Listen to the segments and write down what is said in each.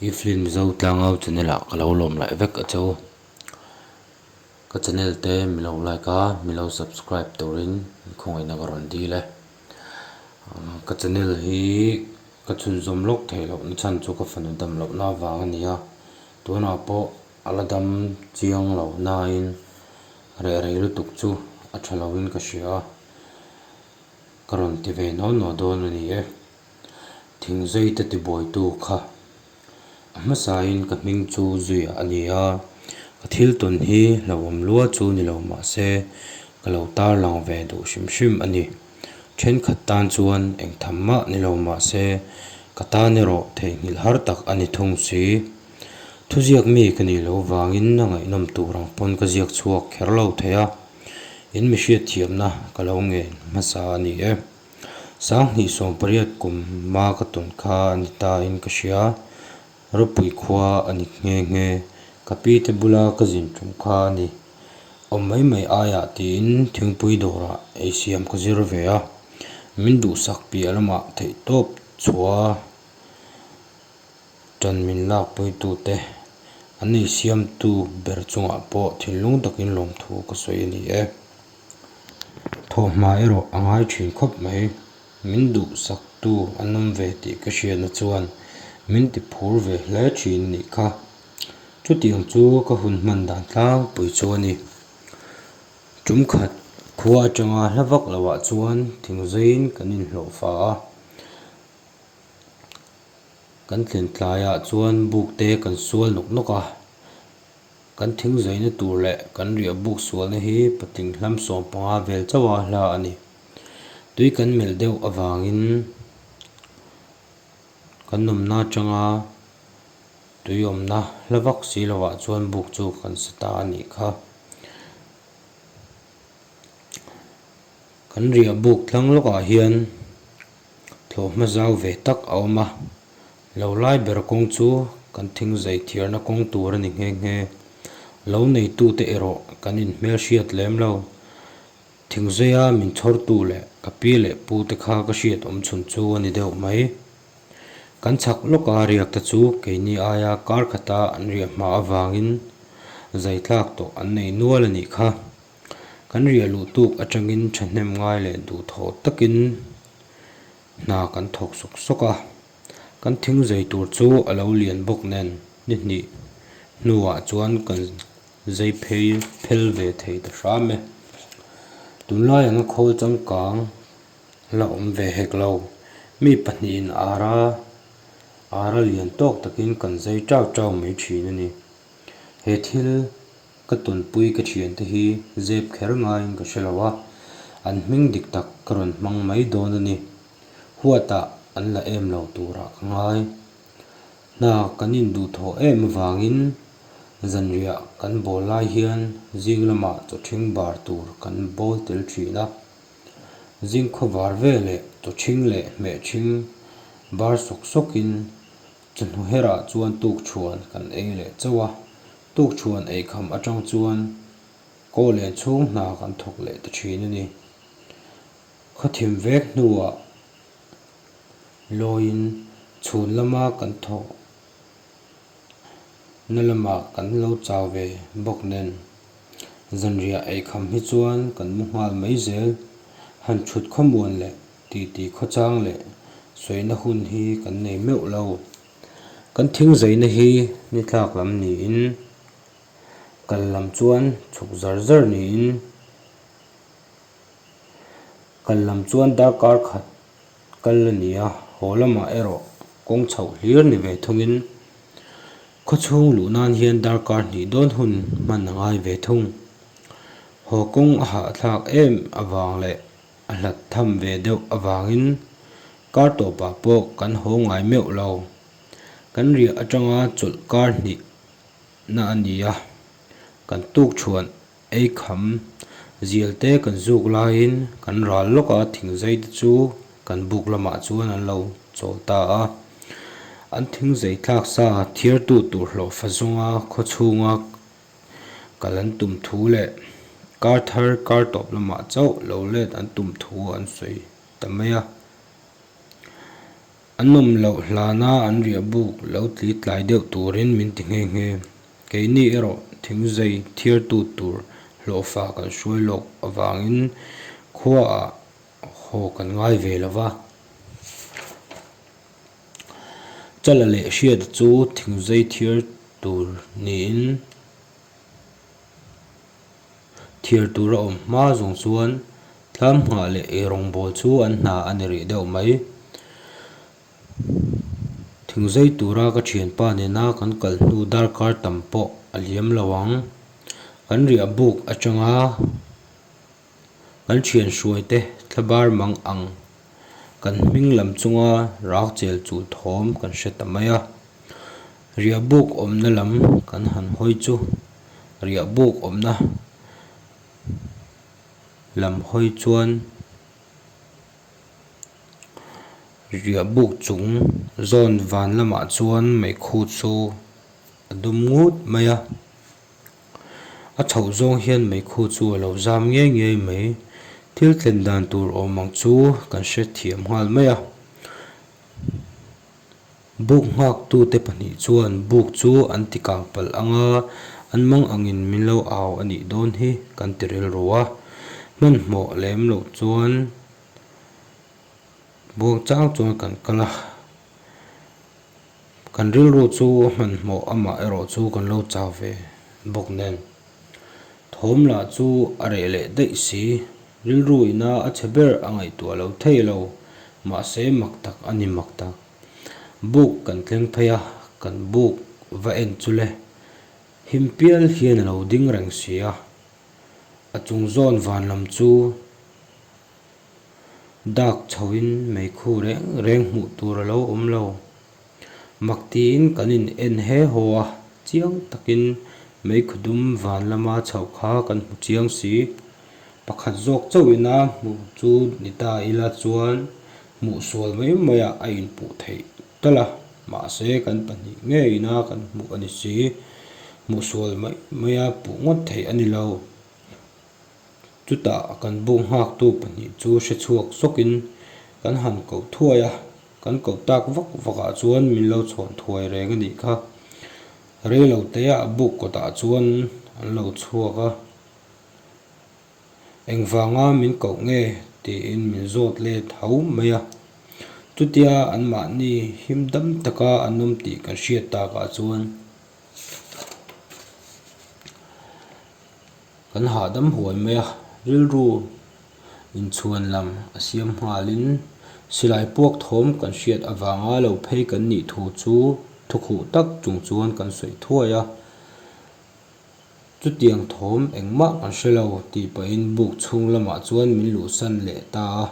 I film zo tlang au channel ah ka lo lawm laih vek a che u. Ka channel te mi lo like a mi lo subscribe tur in i khawngaih na ka rawn dil e. Umm ka channel hi ka chhunzawm lawk thei loh na chhan chu ka fanu dam loh na vang a ni a, tunah pawh a la dam chiang lo na in reh rei lutuk chu a tha lo in ka hria a, ka rawn ti ve no no dawn a ni e. Thing zeite tibuaitu kha a hmasain ka hming chu Zuia a ni a, ka thil tawn hi hlauhawm lual chu ni lo mahse ka lo tarlang ve duh hrim hrim a ni. Thenkhat tan chuan eng tham mah ni lo mahse ka tan erawh theihnghilh har tak a ni thung si. Thuziak mi ka nih loh vangin a ngaihnawm tur ang pawn ka ziak chhuak kher lo thei a, in mihriat thiamna ka lo ngen hmasa a ni e. Sanghnih sawm pariat kum hma ka tawn kha a ni tain ka hria, Ropui khua a ni nghe nghe. Ka pi te bula ka zin ṭum kha a ni. Awm mai mai aiah tiin thingpui dawrah ei siam ka zir ve a, min duhsak piah lamah theih tawp chhua ṭan min lakpuitu te an ei siamtu ber chungah pawh thinlung takin lawmthu ka sawi a ni e. Thawhhma erawh a ngai thin khawp mai. Min duhsaktu a nawm ve tih ka hriatna chuan min ti phur ve hle thin ni kha. Chutih ang chu ka hun hman dan tlangpui chu a ni. Tum khat khua atanga hla vak lo ah chuan thing zaiin kan in hlawhfa a. Kan thlen tlai ah chuan buk te kan sual nawk nawk a. Kan thing zaina tur leh kan riah buk sualna hi patling hlam sawm panga vel chauha hla a ni. Tui kan melh deuh avangin kan awmna atanga tui awmna hla vak si lohah chuan buk chu kan sa ta a nih kha. Kan riah buk tlang lawkah hian thlawh hma zau ve tak a awm a. Lo lai ber kawng chu kan thing zai thiarna kawng tur a ni nghe nghe. Lo neitute erawh kan in hmelhriat lem lo. Thing zaia min chhawrtu leh ka pi leh pu te kha ka hriat awm chhun chu a ni deuh mai. Kan chhak lawka riak te chu keini aia kar khata an riah hma avangin zai tlak tawh an nei nual a nih kha. Kan riah luh tuk atangin thahnem ngai leh duh tho takin Hna kan thawk sawk sawk a, kan thing zui tur chu a lo lian bawk nen ni hnih hnuah chuan kan zui phei phel ve thei ta hram e. Tunlai anga khawl changkang la awm ve hek lo, mi pahnihin ara ara lian tawk takin kan zui teuh teuh mai thin a ni. He thil. Ka tawnpui ka thian te hi zep kher ngaiin ka hre lo a, an hming dik tak ka rawn hmang mai dawn a ni. Huatah an la em lo turah ka ngai. Hna kan induhthawh em avangin zanriah kan bawl lai hian zing lamah chawhṭhing bar tur kan bawl tel ṭhin a. Zing khawvar ve leh chawhṭhing leh hmehṭhing bar sawk sawkin chawhnuherah chuan tukṭhuan kan ei leh chauh a, Tukchhuan ei kham atang chuan Kaw len chhung hna kan thawk leh ta thin a ni. Khawthim vek hnuah lawiin chhun lama kan thawk na lamah kan lo chau ve bawk nen, zanriah ei kham hi chuan kan mu nghal mai zel. Han thut khawmuan leh titi khawchang leh sawina hun hi kan nei meuh lo. Kan thing zeina hi nithlak lam niin kal lam chuan chhuk zar zar niin kal lam chuan darkar khat kal a ni a, haw lamah erawh kawng chho hlir ni ve thungin khaw chhung luh nan hian darkar hnih dawn hun hman a ngai ve thung. Haw kawng a hahthlak em avang leh. A hlat tham ve deuh avangin kar tawpah pawh kan haw ngai meuh lo. Kan riah atanga chawlh kar hnih na a ni a, kan tuk chhuan ei kham zial te kan zuk laiin kan ral lawka thing zei te chu kan buk lamah chuan an lo chawl ta a. An thing zei thlak sa thirtu turhlawh fa zawnga khaw chhunga Kal an tum thu leh kar thar kar tawp lamah chauh lo let an tum thu an sawi ta mai a. A nawm loh hlan a an riah buk lo tli tlai deuh turin min ti nghe nghe. Keini erawh thing zei thirtu tur hlawhfa kan hruai lawk avangin khuaah haw kan ngai ve lo va. Chala leh hriat chu thingzai thir tur niin thir tur a awm hma zawng chuan tlam nghah leh eirawngbawl chu an hna a ni rih deuh mai. Thingzai tura ka thianpa nena kan kal hnu darkar tam pawh a hliam lo ang. Kan riahbuk atanga. Kan thian hruai te thla bar mang ang kan hming lam chunga rak chel chuh thawm kan hre ta mai a. Riah buk awmna lam kan han hawi chu riah buk awmna lam hawi chuan riah buk chung zawn van lamah chuan meikhut chu a dum ngut mai a. A chhoh zawng hian meikhu chu a lo zam ngei ngei mai. Thil tlen dan tur awm ang chu kan hre thiam nghal mai a. Buk nghakhtute pahnih chuan buk chu an ti kang palh ang a, an mang angin min lo au a nih dawn hi kan ti rilru a. Hmanhmawh lem loh chuan buang chang chuan kan kal a. Kan rilru chu hmanhmawh amah erawh chu kan lo chau ve bawk nen, thawm lah chu a reh leh daih si. Rilru ina a chhe ber a ngaihtuah lo thei lo, mahse mak tak a ni mak tak. Buk kan tleng phei a, kan buk va en chu le. Him pial hian a lo ding reng si a, a chung zawn vanlam chu. Dak chho in meikhu reng reng hmuh tur a lo awm lo. Mak tiin kan in en he haw a, chiang takin meikhu dum van lama chho kha kan hmu chiang si. Pakhat zawk chauh ina hmuh chu ni ta ila chuan hmuh sual mai mai ah a in puh theih telh a, mahse kan pahnih ngei ina kan hmuh a ni si. Hmuh sual mai mai a puh ngawt theih a ni lo. Chutah kan buk nghaktu pahnih chu hre chhuak zawkin kan han koh thuai a, kan koh tak vak vakah chuan min lo chhawn thuai reng a nih kha. Reiloteia a buk kawtah chuan an lo chhuak a, engvanga min koh nge tiin min zawt let hau mai a. Chutia anmahni him dam taka an awm tih kan hriat takah chuan. Kan hahdam huai mai a, rilru inchhuan lam a siam nghalin silai puakthawm kan hriat avanga lo phei kan nih thu chu thukhuh tak chung chuan kan sawi thuai a, chutiang thawm engmah kan hre lo tih pahin buk chhung lamah chuan min luhsan leh ta a,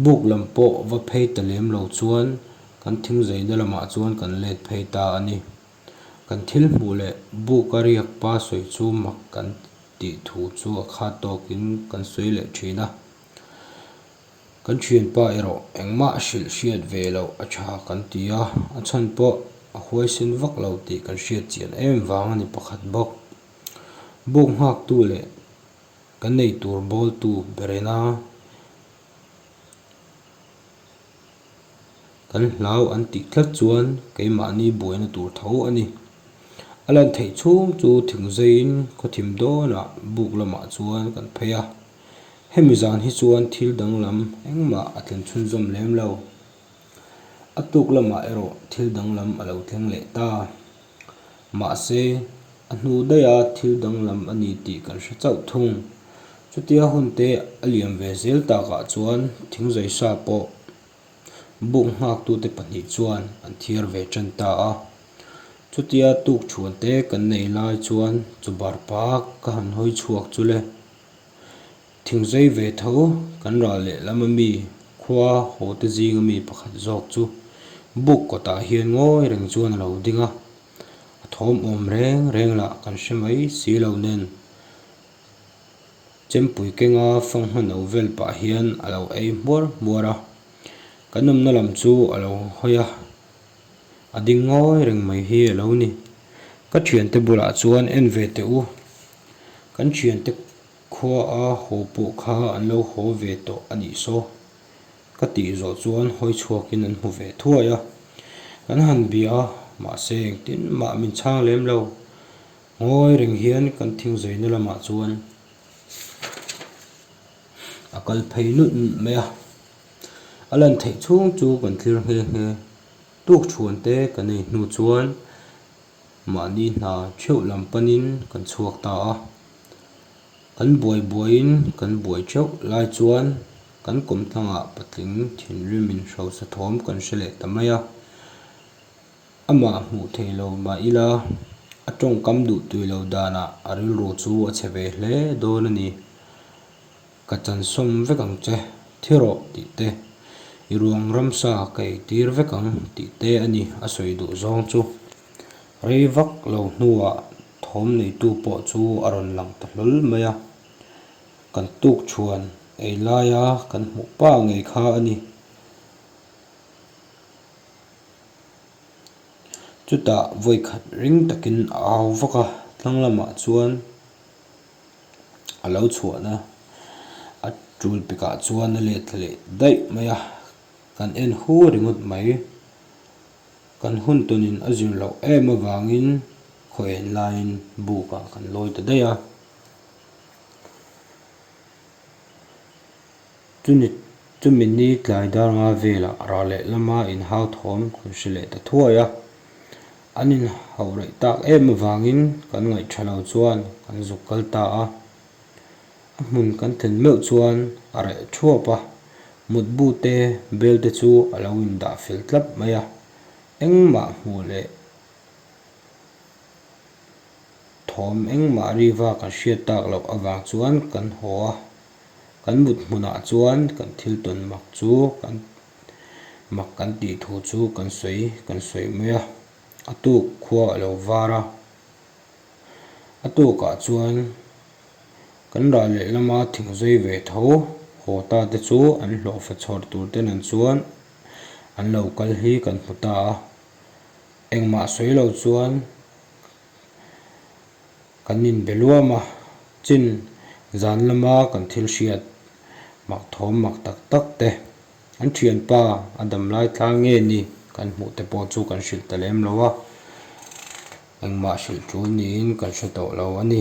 buk lam pawh va phei ta lem lo chuan kan thingzeina lamah chuan kan let phei ta a ni. Kan thil hmuh leh buk a riak pa sawi chu mak kan tih thu chu a khat tawkin kan sawi leh thin a. Kan thianpa erawh engmah a hrilh hriat ve loh a tha kan ti a, a chhan pawh a huaisen vak lo tih kan hriatchian em vang a ni pakhat bawk. Buk nghaktu leh ka nei tur bawltu berena. kan hlau an tih tlat chuan keimahni buaina tur tho a ni. A lan theih chhung chu thingzaiin khawthim dawnah buk lamah chuan kan phei a. Hemi zan hi chuan thil danglam engmah a tlen chhunzawm lem lo. A tluk lamah erawh thil danglam a lo thleng leh ta. Mahse, a hnu daia thil danglam a ni tih kan hre chauh thung. Chutia hunte a liam ve zel takah chuan thingzaisa pawh buk nghaktute pahnih chuan an thiar ve ṭan ta a. Chutia tukṭhuante kan nei lai chuan chu bar pak ka han hawi chhuak chu le. Thingzai ve tho kan ral lehlam a mi khua hawhte zing a mi pakhat zawk chu buk kawtah hian ngawi reng chuan a lo ding a, a thawm awm reng reng lah kan hre mai si lo nen Chempui kenga fanghma no vel pah hian a lo ei hmuar hmuar a, kan awmna lam chu a lo hawi a, a ding ngawi reng mai hi a lo ni. Ka thiante bulah chuan en ve teh u, kan thiante. Khua a haw pawh kha an lo haw ve tawh a nih saw? ka tih zawh chuan hawi chhuakin an hmu ve thuai a, kan han bia a, mahse engtin mah min chhang lem lo, ngawi reng hian kan thing zaina lamah chuan a kal phei nut nut mai a, a lan theih chhung chu kan thlir nghe nghe, tukchhuan te ka nei hnu chuan mahni hna theuh lam panin kan chhuak ta a, Kan buai buaiin kan buai teuh lai chuan kan kawm tlangah patling thinrimin hrosa thawm kan hre leh ta mai a. Amah hmuh theih lo mah ila a tawngkam duh tui lo danah a rilru chu a chhe ve hle dawn a ni. Ka chansawm vek ang che thir aw tih te, i ruang ramsa ka ei tir vek ang tih te a ni a sawi duh zawng chu. Rei vak lo hnuah. Thawm neitu pawh chu a rawn lang ta hlawl mai a, kan tuk chhuan ei laia kan hmuh pah ngei kha a ni. Chutah vawikhat ring takin a au vak a, thlang lamah chuan a lo chhuahna a, a tul pekah chuan a let leh daih mai a, kan en hu ringawt mai. Kan hun tunin a zir loh em avangin khaw en laiin bukah kan lawi ta daih a. Chuni chumini tlai darnga vela rah leh lama inhauthawm kan hre leh ta thuai a. An inhaureih tak em avangin kan ngaihṭha lo chuan kan zuk kal ta a. A hmun kan thlen meuh chuan a reh thuap a, mutbu te bel te chu a lo in dah fel tlap mai a, engmah hmu leh thawm engmah riva kan hriat tak loh avang chuan kan haw a, kan mut hmunah chuan kan thil tawn mak chu kan mak kan tih thu chu kan sawi kan sawi mai a, a tuk khua a lo var a. A tawkah chuan kan ral leh lama thing zawi ve tho haw ta te chu an hlawhfa chhawr tur te nen chuan an lo kal hi kan hmu ta a. Engmah sawi lo chuan kan inbe luam a, chin zan lama kan thil hriat mak thawm mak tak tak te. An thianpa a dam lai tlang nge ni? Kan hmuh te pawh chu kan hrilh ta lem lo a, engmah hrilh ṭul niin kan hre tawh lo a ni.